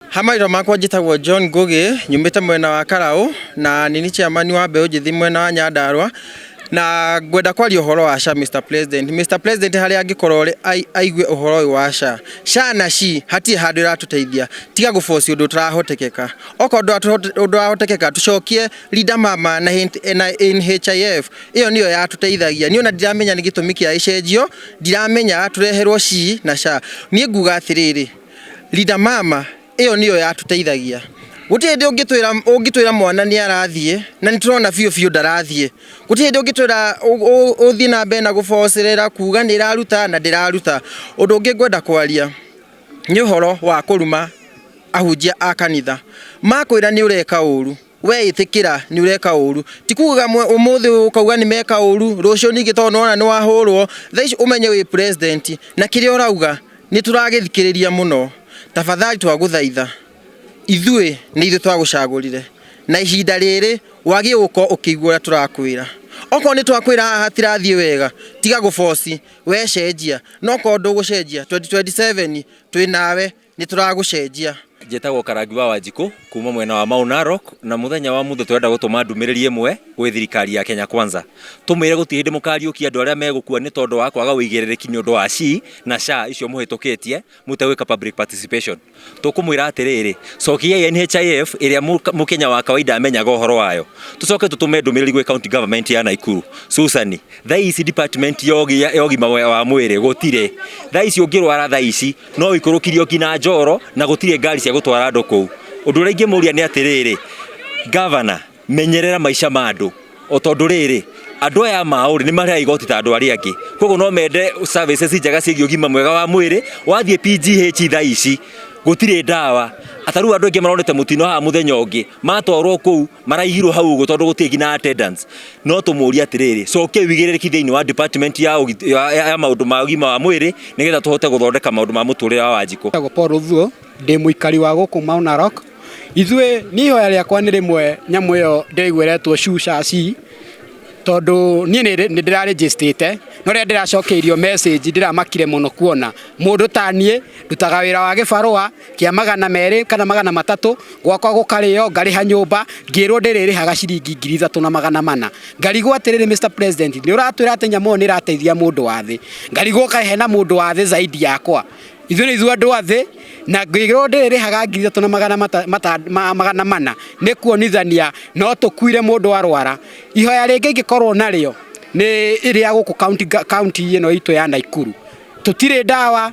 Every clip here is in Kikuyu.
Ha maitho makwa njĩtagwo John Ngũgĩ nyumĩte mwena wa Karaũ na nini chairman wa mbeũ njĩthĩ mwena wa Nyandarua na ngwenda kwaria ũhoro wa SHA Mr President. Mr President harĩa angĩkorwo rĩ- ai- aigue ũhoro ũyũ wa SHA. SHA na SHI hatirĩ handũ ĩratũteithia tiga gũboci ũndũ ũtarahotekeka. Okorwo ndũrahote- ũndũ ũrahotekeka tũcokie Linda Mama na hin- na NHIF ĩyo nĩyo yatũteithagia niĩ ona ndiramenya nĩ gĩtũmi kĩa ĩcenjio ndiramenya tũreherwo ci na ca niĩ nguga atĩrĩrĩ Linda mama ĩyo nĩyo yatũteithagia gũtirĩ hĩndĩ ũngĩtwĩra ũngĩtwĩra mwana nĩ arathiĩ na nĩ tũrona biũ biũ ndarathiĩ gũtirĩ hĩndĩ ũngĩtwĩra ũ- ũ- ũthiĩ na mbere na gũbocerera kuga nĩ ĩraruta na ndĩraruta ũndũ ũngĩ ngwenda kwaria nĩ ũhoro wa kũruma ahunjia a kanitha makwĩra nĩ ũreka ũru Wee ĩtĩkĩra nĩ ũreka ũũru. Ti kuugaga ũmũthĩ ũkauga nĩ meka ũũru, rũciũ ningĩ tondũ nĩwona nĩ wahũrwo, thaa ici ũmenye wĩ president na kĩrĩa ũrauga nĩ tũragĩthikĩrĩria mũno. Tafadhali twagũthaitha, ithuĩ nĩ ithuĩ twagũcagũrire na ihinda rĩrĩ wagĩrĩirwo gũkorwo ũkĩigua ũrĩa tũrakwĩra. Okorwo nĩ twakwĩra haha hatirathiĩ wega, tiga gũ force, we cenjia. No okorwo ndũgũcenjia, 2027 twĩ nawe. nĩ tũragũcenjia njĩtagwo karangi wa wanjikũ kuma mwena wa Mau Narok na muthenya wa muthe turenda gutuma ndumiriri imwe gwi thirikari ya Kenya Kwanza tumire guti hindi mukariukia andu aria megukua ni tondu wa kwaga uigiririki ni undu wa SHI na SHA icio muhitukitie mutewika public participation tukumwira atiriri cokiai NHIF iria mukenya wa kawaida amenyaga uhoro wayo tucoke tutume ndumiriri gwi county government ya Naikuru Susani thaici department yogi yogi mawe wa mwiri gutire thaici ungirwara thaici no ũikũrũkirio nginya njoro na gũtirĩ ngari cia gũtwara andũ kũu ũndũ ũrĩa ingĩmũria nĩ atĩrĩrĩ gavana menyerera maica ma andũ o tondũ rĩrĩ andũ aya maũrĩ nĩ marĩaga igoti ta andũ arĩa angĩ koguo no mende services njega ciĩgiĩ ũgima mwega wa mwĩrĩ wathiĩ PGH thaa ici gũtirĩ ndawa atarĩu andũ aingĩ maronete mũtino haha mũthenya ũngĩ matwarwo kũu maraihirwo hau ũguo tondũ gũtirĩ nginya attendance no tũmũrie atĩrĩrĩ coke wigĩrĩrĩki thĩinĩ wa department ya, ũgit- ya, ya, ya maũndũ ma ũgima wa mwĩrĩ nĩgetha tũhote gũthondeka maũndũ ma mũtũrĩre wa wanjikũ Njĩtagwo Paul Ũthuo, ndĩ mũikari wa gũkũ Mount Narok. Ithuĩ niĩ ihoya rĩakwa nĩ rĩmwe nyamũ ĩyo ndĩgwĩretwo cucaci tondũ niĩ nĩ nĩ ndĩrarĩnjĩstĩte no rĩrĩa ndĩracokeirio message ndĩramakire mũno kuona mũndũ ta niĩ ndutaga wĩra wa gĩbarũa kĩa magana merĩ kana magana matatũ gwakwa gũkarĩo ngarĩha nyũmba ngĩrwo ndĩrĩrĩhaga ciringi ngiri ithatũ na magana mana ngarigwo atĩrĩrĩ Mr President nĩ ũratwĩra atĩ nyamũ ĩyo nĩ ĩrateithia mũndũ wa thĩ ngarigwo kaĩ hena mũndũ wa thĩ zaidi yakwa ithuĩ nĩ ithuĩ andũ a thĩ na ngĩrwo ndĩrĩrĩhaga ngiri ithatũ na magana mata- mata- ma- magana mana nĩ kuonithania no tũkuire mũndũ arwara ihoya rĩngĩ ingĩkorwo narĩo nĩ rĩa gũkũ county ga- county ĩno itũ ya Naikuru tũtirĩ ndawa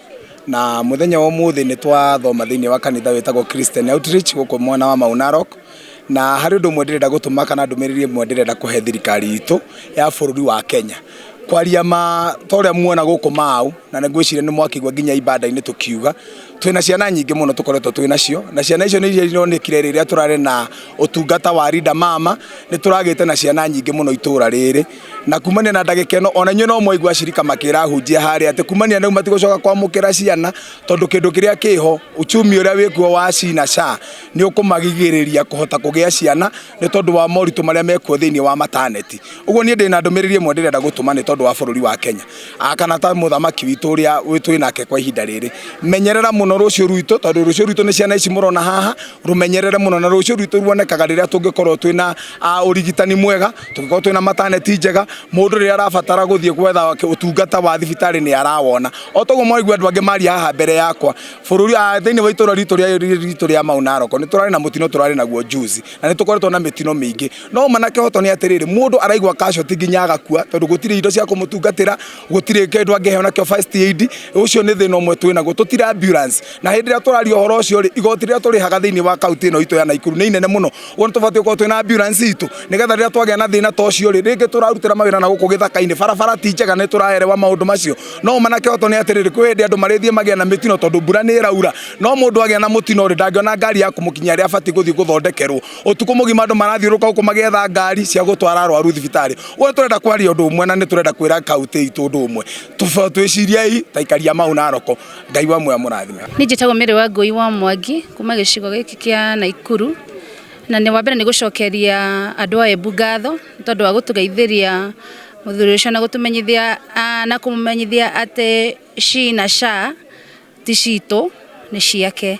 na muthenya wa umuthi ni twathoma thiini wa kanitha witagwo Christian Outreach guku mwena wa Mau Narok na hari undu umwe ndirenda gutuma kana ndumiriri imwe ndirenda kuhe thirikari itu ya bururi wa Kenya kwaria ma ta uria muona guku mau na nä ngwä ciria nä mwakigua nginya ibanda-inä tå kiuga twä na ciana nyingä må no tå koretwo twä nacio na ciana icio nä iria ironekire rä rä a tå rarä na å tungata wa Linda mama nä tå ragä te na ciana nyingä må no itå ra rä rä na kumania na ndagĩka ĩno ona inyuĩ no mwaigua acirika makĩra hunjia harĩa atĩ kumania na rĩu matigũcoka kwamũkĩra ciana tondũ kĩndũ kĩrĩa kĩho uchumi ũrĩa wĩkuo wa cina sha nĩ ũkũmagigĩrĩria kũhota kũgĩa ciana nĩ tondũ wa moritũ marĩa mekuo thĩinĩ wa mataneti ũguo niĩ ndĩ na ndũmĩrĩri ĩmwe ndĩrenda gũtũma nĩ tondũ wa bũrũri wa kenya Ah, kana ta mũthamaki witũ ũrĩa wĩ- twĩ nake kwa ihinda rĩrĩ menyerera mũno rũciũ rwitũ tondũ rũciũ rwitũ nĩ ciana ici mũrona haha rũmenyerere mũno na rũciũ rwitũ ruonekaga rĩrĩa tũngĩkorwo twĩ na ah, ũrigitani mwega tũngĩkorwo twĩna mataneti njega mũndũ rĩrĩa arabatara gũthiĩ gwetha wake ũtungata wa thibitarĩ nĩ arawona o toguo mwaigua andũ angĩ maria haha mbere yakwa bũrũri ah, thĩinĩ wa itũra ritũ rĩa ritũ rĩa Mau Narok nĩ tũrarĩ na mũtino tũrarĩ naguo juzi na nĩ tũkoretwo na mĩtino mĩingĩ no manake hoto nĩ atĩrĩrĩ mũndũ araigua casualty nginya agakua tondũ gũtirĩ indo cia kũmũtungatĩra gũtirĩ kĩndũ angĩheo nakĩo first aid ũcio nĩ thĩna ũmwe twĩ naguo tũtira ambulance na hĩndĩ ĩrĩa tũraria ũhoro ũcio rĩ igoti rĩrĩa tũrĩhaga thĩinĩ wa kaunti ĩno itũ ya Naikuru nĩ inene mũno kuo nĩ tũbatiĩ gũkorwo twĩna ambulance itũ nĩgetha rĩrĩa twagĩa na thĩna ta ũcio rĩ rĩngĩ tũrarutĩra mawĩra na gũkũ gĩthaka-inĩ barabara ti njega nĩ tũraerewa maũndũ macio no manake oto nĩ atĩrĩrĩ kwĩ hĩndĩ andũ marĩthiĩ magĩa na mĩtino tondũ mbura nĩ ĩraura no mũndũ agĩa na mũtino rĩ ndangĩona ngari ya kũmũkinyia rĩrĩa abatiĩ gũthiĩ gũthondekerwo ũtukũ mũgima andũ marathiũrũka gũkũ magĩetha ngari cia gũtwara arwaru thibitarĩ ũguo nĩ tũrenda kwaria ũndũ ũmwe na nĩ tũrenda kwĩra kaunti itũ ũndũ ũmwe Tũba- twĩciriei taikaria mau Naroko ngai wa muoya mũrathime Niĩ njĩtagwo Mary wa Ngũi wa Mwangi kuma gĩcigo gĩkĩ kĩa Naikuru na nĩ wa mbere nĩ gũcokeria andũ a Embu ngatho nĩ tondũ wa gũtũgeithĩria mũthuri ũcio na gũtũmenyithia ah, na kũmũmenyithia atĩ SHI na SHA ti citũ nĩ ciake.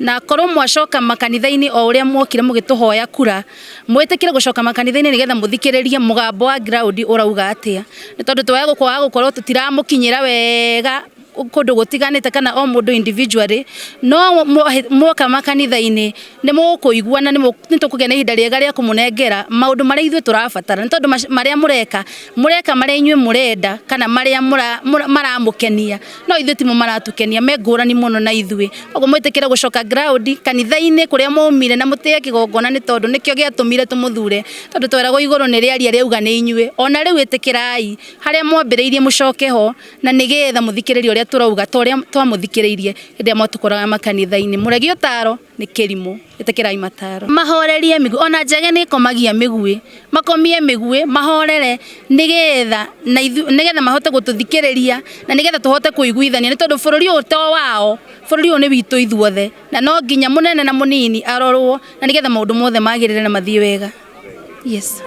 na korwo mwacoka makanitha-inĩ o ũrĩa mwokire mũgĩtũhoya kura mwĩtĩkĩre gũcoka makanitha-inĩ nĩgetha mũthikĩrĩrie mũgambo wa ground ũrauga atĩa nĩ tondũ twaya gũkwaga gũkorwo tũtiramũkinyĩra wega kũndũ gũtiganĩte kana o mũndũ individually no mwoka makanitha-inĩ nĩ mũkũigua na nĩ tũkũgĩa na ihinda rĩega rĩa kũmũnengera maũndũ marĩa ithuĩ tũrabatara nĩ tondũ marĩa mũreka mũreka marĩa inyuĩ mũrenda kana marĩa maramũkenia no ithuĩ timo maratukenia me ngũrani mũno na ithuĩ koguo mwĩtĩkĩre gũcoka ground kanitha-inĩ kũrĩa mwaumire na mũtĩye kĩgongona nĩ tondũ nĩkĩo gĩatũmire tũmũthure tondũ tweragwo igũrũ nĩ rĩaria rĩauga nĩ inyuĩ ona rĩu ĩtĩkĩrai harĩa mwambĩrĩirie mũcoke ho na nĩgetha mũthikĩrĩrie ũrĩa tũrauga ta ũrĩa twamũthikĩrĩirie hĩndĩ ĩrĩa mwatũkoraga makanitha-inĩ mũregi ũtaro nĩ kĩrimũ ĩtĩkĩrai mataro mahorerie mĩguĩ ona njege nĩ ĩkomagia mĩguĩ makomie mĩguĩ mahorere nĩgetha na ithu nĩgetha mahote gũtũthikĩrĩria na nĩgetha tũhote kũiguithania nĩ tondũ bũrũri ũyũ to wao bũrũri ũyũ nĩ witũ ithuothe na no nginya mũnene na mũnini arorwo na nĩgetha maũndũ mothe magĩrĩre na mathiĩ wega yes.